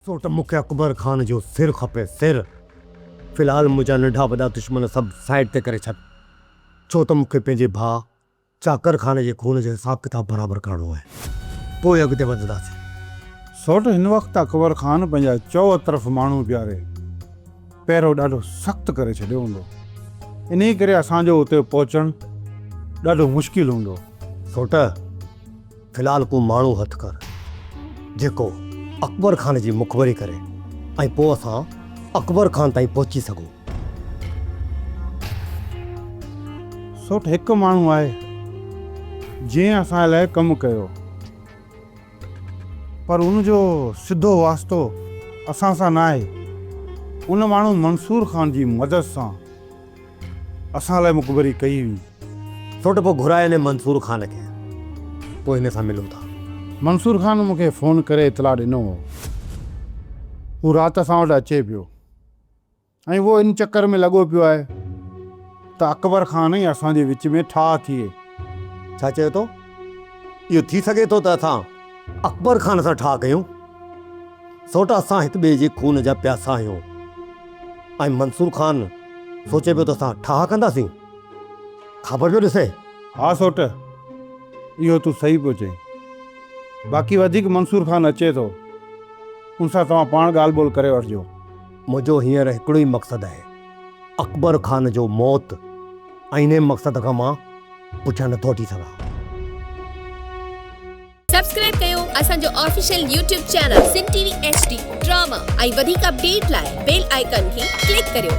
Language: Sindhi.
ڇو ته مون کي اڪبر خان جو سر کپي، سر! في الحال منهنجا ننڍا وڏا دشمن سڀ سائيڊ تي ڪري ڇڏ، ڇو ته مون کي پنهنجي ڀاء چاڪر خان جي خون جو حساب ڪتاب برابر ڪرڻو آهي. پوء اڳتي وڌنداسين. سوٽ هن وقت اڪبر خان پنهنجا چؤطرف ماڻهو پياري، پهرو ڏاڍو سخت ڪري ڇڏيو هوندو. انهيء ڪري اسان جو اتي پهچڻ ڏاڍو مشڪل هوندو. سوٽ! في الحال ڪو ماڻهو هٿ ڪر جيڪو اڪبر خان جي مخبري ڪري ۽ پوء اسان اڪبر خان تائين پهچي سگهون. سوٺ هڪ ماڻهو آهي جنهن اسان لاء ڪم ڪيو پر ان جو سڌو واسطو اسان سان ناهي. ان ماڻهو منصور خان جي مدد سان اسان لاء مخبري ڪئي هئي. ڇو ته پوء گهراء هن منصور خان کي. پوء هن سان ملون ٿا. منصور خان مون کي فون ڪري اطلاع ڏنو هو. هو رات اسان وٽ اچي پيو ۽ اهو ان چڪر ۾ لڳو پيو آهي ته اڪبر خان ۽ اسان جي وچ ۾ ٺاهه ٿئي. ڇا چئو ٿو؟ اهو ٿي سگهي ٿو ته اسان. اڪبر خان سان ٺاهه ڪيون، سوٽ اسان هڪ ٻئي جي خون جا پياسا آهيون ۽ منصور خان سوچي پيو ته اسان ٺاهه ڪنداسين. خبر پيو ڏسي. ها سوٽ، اهو تون صحيح پيو چئين. باقي وڌيڪ منصور خان اچي ٿو، ان سان توهان پاڻ ڳالهه ٻولهه ڪري وٺجو. منهنجو هينئر هڪڙو ئي مقصد آهي، اڪبر خان جو موت. انهيء مقصد کان مان پٺيان نٿو هٽي سگهان. سبسڪرائب ڪيو اسان جو official YouTube channel Sindh T V H D drama ۽ وڌيڪ اپڊيٽ لاء بيل آئيڪان کي ڪلڪ ڪريو.